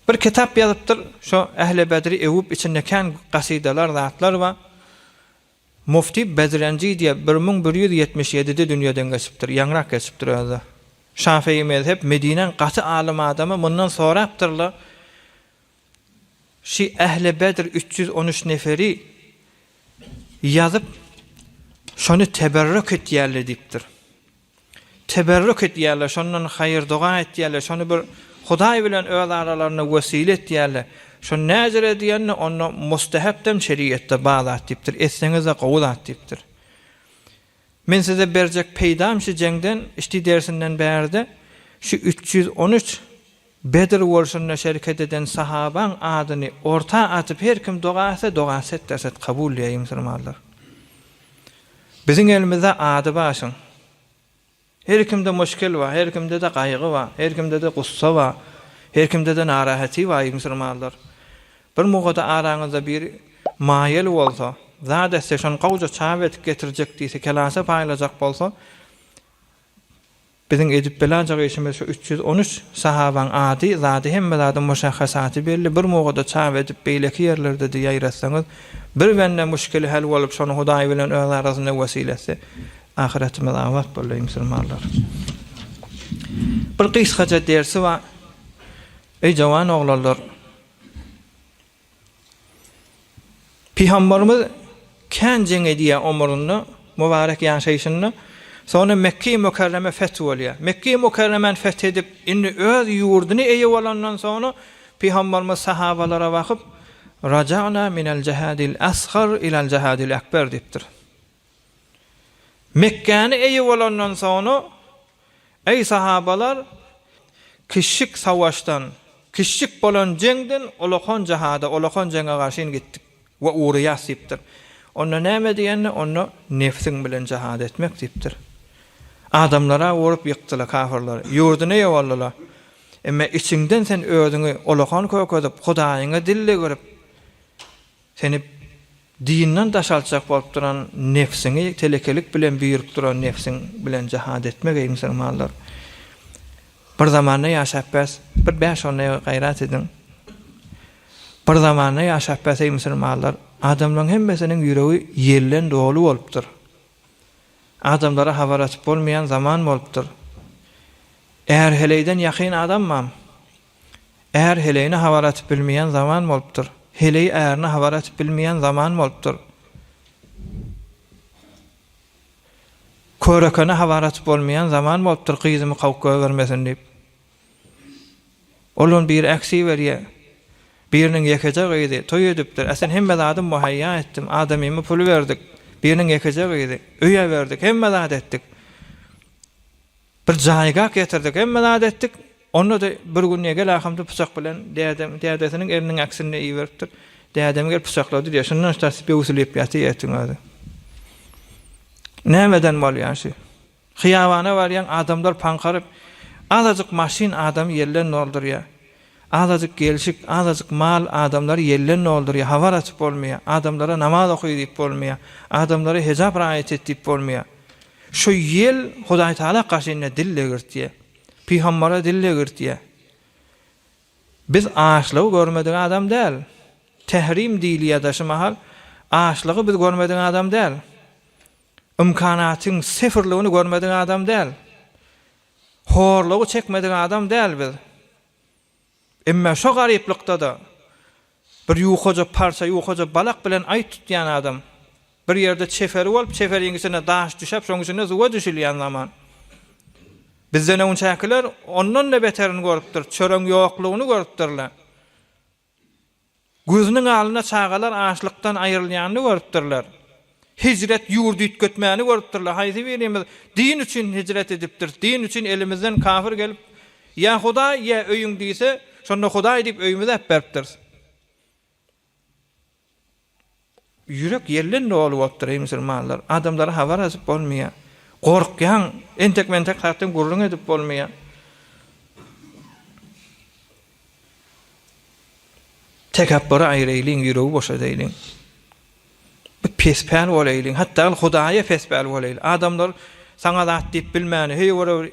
Bir kitap ýazypdyr, şo ähli Bedri öwüp içinde kän gasydalar, zatlar bar. Mufti Bedrenji diýip, bir müň bir ýüz ýetmiş ýedide dünýeden geçipdir, ýaňyrak geçipdir özi. Şafygy mezhep Medinäň gaty alym adamy mundan sorapdyr-la, Şi Ähli Bedr üç ýüz on üç neferi ýazyp, şony teberrük etýärli diýipdir. Teberrük edýärler, şondan haýyr-doga etýärler, şony bir Hudaý bilen öz aralaryna wesile etýärler. Şony näzir edýänine onda mustahepdem şerigatda bar zat diýipdir, etseňiz-de gowy zat diýipdir. Men size berjek peýdam şu jeňden, şti dersinden bärde şu üç ýüz on üç Bedr urşunda şereket eden sahabaň adyny orta atyp her kim doga etse doga set der set kabul diýäýi musulmanlar. Biziň elimizde ady başyň. Her kimde muşkil bar, her kimdede gaýgy bar, her kimdede gussa bar, her kimdede narahaty baryý musulmanlar. Bir mugada araňyzda biri maýaly bolsa, zat etse şony gowja çap edip getirjek diýse kelasa paýlajak bolsa Biziň edip bilanjak işimiz şu üç ýüz on üç sahabaň ady, zady hemme zadyň muşahhasaty belli, bir mowada çap edip beýleki ýerlerdedi ýaýratsaňyz, bir bende muşkili hel bolup şony Hudaý bilen öz arasynda wesil etse, ahyretimiz abat boldy eý musulmanlar. Bir gysgaja dersi bar eý jowan oglanlar. Pygambarymyz kän jeň edýär omrunda, mubarek ýaşaýşynda. Soňra Mekge-i Mükerreme feth bolýar. Mekge-i Mükerremäni feth edip, indi öz ýurduny eýe bolandan soňra Pygambarymyz sahabalara bakyp, Raja'na minel jehadil asgar ilel jehadil ekber diýipdir. Mekgäni eýe bolandan soňra, Eý, sahabalar, kiçjik savaşdan, kiçjik bolan jeňden ulakan jihada, ulakan jeňe garşyn gitdik we urýas diýipdir. Onda näme diýende, onda nebsiň bilen jihad etmek diýipdir. Adamlara urup ýykdylar kafirleri, ýurduny ýogaldylar. Emma içiňden sen özüňi ulakan kökezip, Hudaýyňa dil degerip, Seni dinden daşaltjak bolup duran nebsiňi telekelik bilen büýrüp duran nebsiň bilen jahad etmek eý musulmanlar. Bir zamanda ýaşap bäs bir bäş on ýyl gaýrat ediň. Bir zamanda ýaşap bäs eý musulmanlar. Adamlaň hemmesiniň ýüregi ýelden doly bolupdyr. Adamlara habar atyp bolmaýan zaman bolupdyr. Är heleýden ýakyn adamam Är heleýine habar atyp bilmeýän zaman bolupdyr. Heleý ärine habar atyp bilmeýän zaman bolupdyr. Körekene habar atyp bolmaýan zaman bolupdyr gyzymy kawup gögermesin diýip. Olam biri äksi berýär. Biriniň ýekeje gyzy toý edipdir. Ä sen hemme zady muhaýýa etdim. Adamymy puly berdik. Biriniň ýekeje gyzy. Öýe berdik. Hemme zat etdik. Bir jaýgak ýatyrdyk, hemme zat etdik. Onda-da bir gün Egel akamdy pyçak bilen dädem, dädesiniň eliniň äksinde iberipdir. Dädemi gelip pyçaklady diýýär. Şundan ştas böwsülip ýatyr etiň özi. Näme eden bolýaň şü? Hyýabana barýaň, adamlar paňkaryp, azajyk maşyn adamy ýelden doldurýar. Azajyk gelşik, azajyk mal adamlary ýelden doldurýar, habar açyp bolmaýar, adamlara namaz oky diýip bolmaýar, adamlara hejap raýat et diýip bolmaýar. Şu ýel Hudaý Tagala kaşyna dil degirtýär. Pygambara dil degirtýär. Biz açlygy görmedik adam däl. Tährim diýilýär-de şu mahal. Açlygy biz görmedik adam däl. Ymkanatyň sifrligini görmedik adam däl. Horlugy çekmedik adam däl biz. Emmä şo garyplykda-da bir ýukaja parça, ýukaja balak bilen aý tutýan adam. Bir ýerde çeferi bolup, çeferiň içine daş düşäp, şoň içinde suwa düşülýän zaman. Bizden öňçäkiler ondan-da beterini görüpdir, çöregiň ýoklugyny görüpdirler. Gözüniň alnynda çagalar açlykdan aýrylýanyny görüpdirler. Hijret ýurdy üýtgetmäni görüpdirler. Haýsy birimiz din üçin hijret edipdiris? Din üçin elimizden kafir gelip, Ýa Hudaý, ýa öýüň diýse, şonda Hudaý diýip öýümizi äpberipdiris. Ýürek ýelden doly bolup dur eý musulmanlar, adamlara habar azyp bolmaýar. Gorkýaň, entek mentek zatdan gürrüň edip bolmaýar. Tekepbüri aýraýlyň, ýüregi boşadaýlyň. Bir pespäl bolaýlyň, hatda Hudaýa pespäl bolaýly. Adamlar saňa zat diýip bilmäni, heý ora bir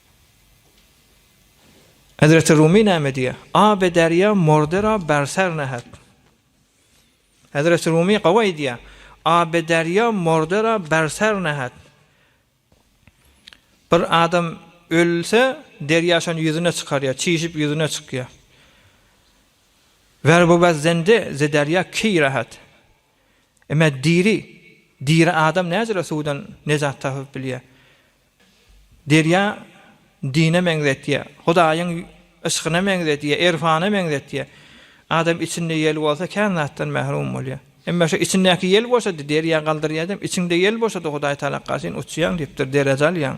Hezreti Rumi näme diýýär? Abe derýa mordera berser nehet. Hezreti Rumi gowy aýdýar. Abe derýa mordera berser nehet. Bir adam ölse, derýa şony ýüzüne çykarýar, çişip ýüzüne çykýar. Wer bu baz zende ze derýa ki rahat. Emma diri, diri adam näjere suwdan nejat tapyp bilýär? Derýa dine meňzetýär, Hudaýyň yşkyna meňzetýär, erfana meňzetýär. Adam içinde ýel bolsa, kän zatdan mährum bolýar. Emma şu içindäki ýel boşady, derýa galdyrýar diýem, içiňde ýel boşady, Hudaý talakgarçyn uçýaň diýipdir, dereje alýaň.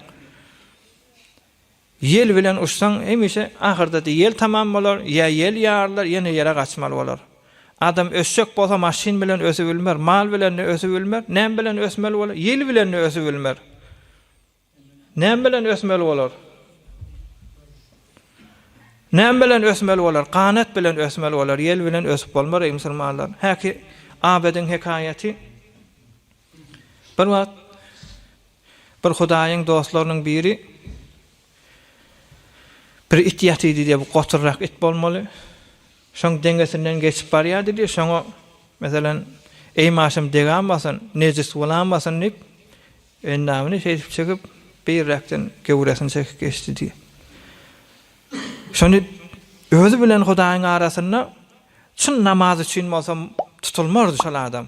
Ýel bilen uçsaň, hemişe ahyrda-da ýel tamam bolar, ýa ýel ýarylar, ýene ýere gaçmaly bolar. Adam ösjek bolsa maşyn bilen ösübilmer, mal bilen-de ösübilmer, näme bilen ösmeli bolar? Ýel bilen-de ösübilmer. Näme bilen ösmeli bolar? Näme bilen ösmeli bolar? Ganat bilen ösmeli bolar, ýel bilen ösüp bolmar, eý musulmanlar! Häki Abedyň hekaýaty. Bir wagt bir Hudaýyň dostlarynyň biri. Bir it ýatydy diýýär, bu goturrak it bolmaly. Şoň deňesinden geçip barýardy diýýär, şoňa, meselem, Eý maşym deganmasyn, nejis bolamasyn diýip, endamyny şeýdip çekip, beýräkden göwresini çekip geçdi diýýär. Şony özi bilen Hudaýyň arasynda çyn namaz üçin bolsa tutulmardy şol adam.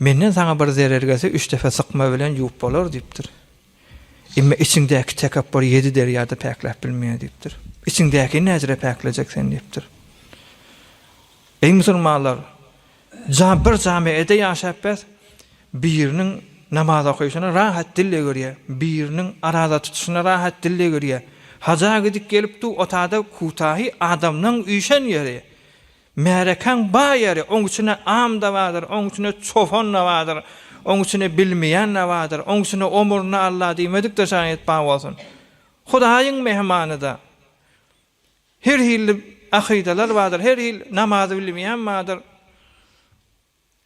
Menden saňa bir zerer gelse, üç depe sykma bilen ýuwup bolar, diýipdir. Emma içiňdäki tekepbur ýedi derýa-da päkläp bilmeýär, diýipdir. Içiňdäkini näzire päklejek sen, diýipdir. Eý musulmanlar, jam, bir jam-a ede ýaşap bes, biriniň namaz okaýşyna rahat dil egirýär, biriniň araza tutuşyna rahat dil egirýär, haja gidip gelip du otada kutahi adamlaň üýşen ýeri, Märekäň bar ýeri, oň içine am-da bardyr, oň içine çopan-da bardyr, oň içine bilmeýän-de bardyr, oň içine omurny Alla diýmedik-de şaýat bar bolsun. Hudaýyň mähmany-da. Her hilli akydalar bardyr, her hil namazy bilmeýän bardyr.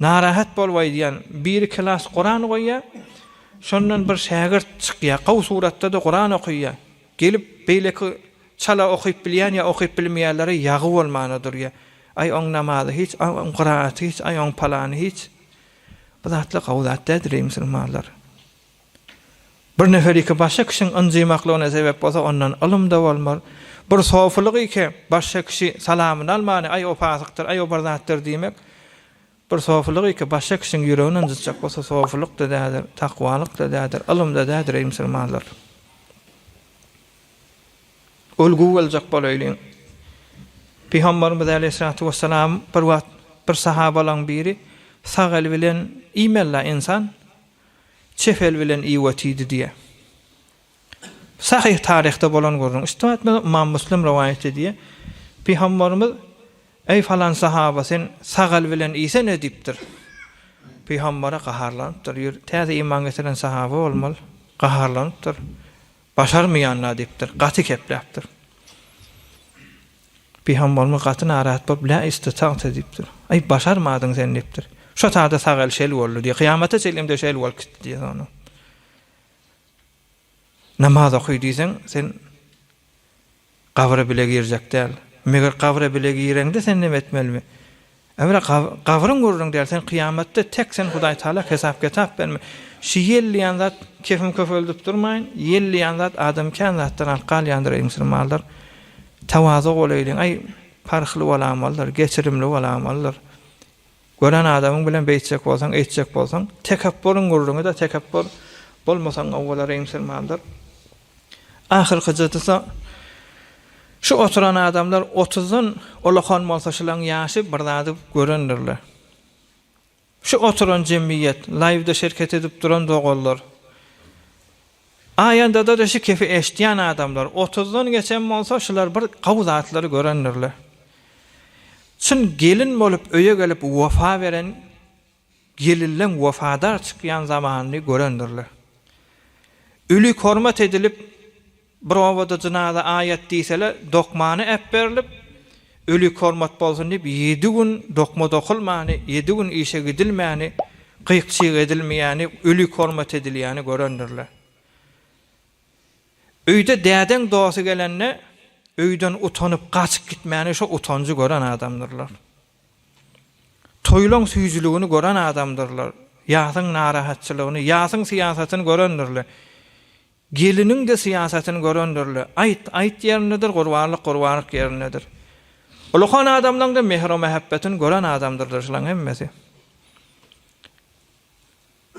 Narahat bolup aýdýan biri klas Kuran goýýa, şondan bir şägirt çykýa, gowy suratda-da Kuran okyýa, gelip beýleki çala okyp bilýän ýa okyp bilmeýänlere ýagy bolmana durýa, aý oň namazy hiç, aý oň kyraaty hiç, aý oň palany hiç. Bu zatlar gowy zat däl-de leý musulmanlar. Bir nefer iki başga kişiň ynjymaklygyna sebäp bolsa, ondan ylym-da bolmaz. Bir sofylyk iki başga kişi salamyny almany, aý, o pasykdyr, aý, o bir zatdyr diýmek, bir sofylyk iki başga kişiň ýüregini ynjytjak bolsa, sofylyk-da däldir, takwalyk-da däldir, ylym-da däldir, eý, musulmanlar! Ülgi boljak bolaýlyň. Pygamberimiz aleýhissalatu wessalam bir wagt bir sahabalaryň biri sag eli bilen iýmeli-la ynsan, Çepel bilen Iwa tiydi diye. Sahyh taryhda bolan gürrüň. Üstüme etmez Ymam Müslim rowaýat edýär. Pygamberimiz, Eý falan sahaba sen sagal bilen iýsene diýipdir. Pygambere gaharlanypdyr. Ýur, täze iman getiren sahaba bolmaly. Gaharlanypdyr. Başarmaýan-la diýipdir. Gaty kepläpdir. Pygamberimiz gaty narahat bolup, Lä istitagta diýipdir. Aý, başarmadyň sen diýipdir. Şo sada sagaly şel boldy diýýär. Kyýamata çenli-de şel bolup gitdi diýýär ony. Namaz okaý diýseň, sen gabra bile girjek däl. Meger gabra bile gireňde sen näme etmelimi? Ebra gabryň gürrüň däl sen kyýamatda tek sen Hudaýtagala hesap ketap berme şu ýel diýen zat kefim köpeldip durmaýyn ýel diýen zat adamy kän zatdan alyp galýandyr eý musulmanlar tawaza bolaýlyň aý parhly bolamalydyr geçirimli bolamalydyr gören adamyň bilen beýtjek bolsaň eýtjek bolsaň tekepburyň gürrüňi de tekepbur bolmasaň gowy bolar eý musulmanlar Ahyrkyjydysa, şu oturan adamlar otuzdan ulakan bolsa şulaň ýaşy bir zady görendirler. Şu oturan jemgyýet, laýwda şerket edip duran doganlar, aýandadada şu kefi eşitýän adamlar otuzdan geçen bolsa şular bir gawy zatlary görendirler. Çyn gelin bolup öýe gelip wepa beren, Gelinleň wepadar çykýan zamanyny görendirler. Ölük hormat edilip, bir obada jynaza aýat diýseler, dokmany äpberilip, ölük hormat bolsun diýip, ýedi gün dokma dokulmany, ýedi gün işe gidilmäni, gyk-çyk edilmeýäni, ölük hormat edilýäni görendirler. Öýde dädeň dosty gelende, öýden utanyp, gaçyp gitmäni, şo utanjy gören adamdyrlar. Toýlaň süýjüligini gören adamdyrlar. Ýasyň narahatçylygyny, ýasyň syýasatyny görendirler. Geliniň-de syýasatyny görendirler. Aýt, aýt ýerindedir, gurbanlyk, gurbanlyk ýerindedir. Ulukan adamlaň-da mehro-mähebbetini gören adamdyrlar şulaň hemmesi.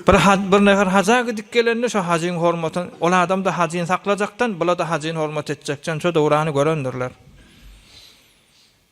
Bir haj, bir nefer haja gidip gelende şo hajyň hormatyn, ol adam-da hajyny saklajakdan, bula-da hajyny hormat etjekden şo döwrany görendirler.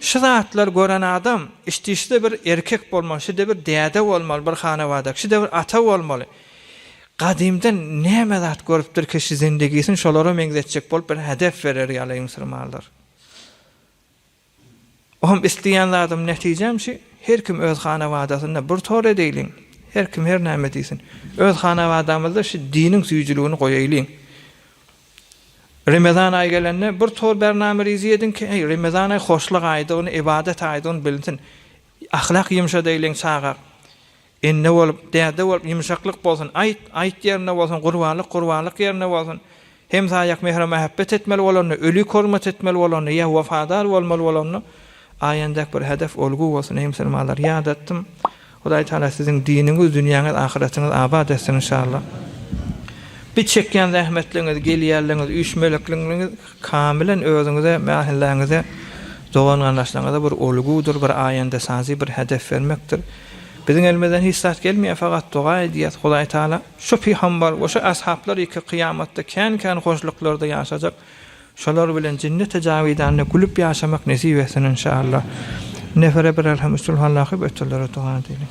Şu zatlar gören adam, işte şide bir erkek bolmaly, şide bir däde bolmaly, bir hanawada, şide bir ata bolmaly. Gadymdan näme zat görüpdirki şu zindigisini şolara meňzetjek bolup bir hedef berer ýaly yňsyrmanlar. Ohm isleýän zadym netijäm şu her kim öz hanabadasynda bir tor edeýliň her kim her näme diýsin öz hanabadamyzda şu diniň süýjüligini goýaýlyň Remezan aýy gelende bir tor bername rizi ediň ki eý Remezan aýy hoşluk aýdygyny ybadat aýdygyny bilinsin ahlak ýumşadaýlyň çaga Ene bolup, däde bolup ýumşaklyk bolsun, aýt, aýt ýerinde bolsun, gurbanlyk, gurbanlyk ýerinde bolsun. Hemsaýak mähir-mähebbet etmeli bolanda, ölik hormat etmeli bolanda, ýa wepadar bolmaly bolanda, aýandäk bir hedef, ulgy bolsun, eý musulmanlar, ýadatdym. Hudaý Tagala siziň diniňiz, dünýäňiz, ahyratyňyz abat etsin inşallah. Bi çekýän zähmetligiňiz, gelýänligiňiz, üýşmelekligiňiz Kamilen özüňize, mähellängize, dogan-garyndaşlaryňyza bir ulgudyr, bir aýandesazy bir hedef bermekdir. Biziň elimizden hiç zat gelmeýär, fakat doga edýäs, Hudaý Tagala şu pygambar we şu ashaplar ýeke kyýamatda kän-kän hoşluklarda ýaşajak, şolar bilen jenneti jawidanda gülüp ýaşamak nesip etsin inşallah. Nefere birerham üsul hallaky, beterlere doga edeliň.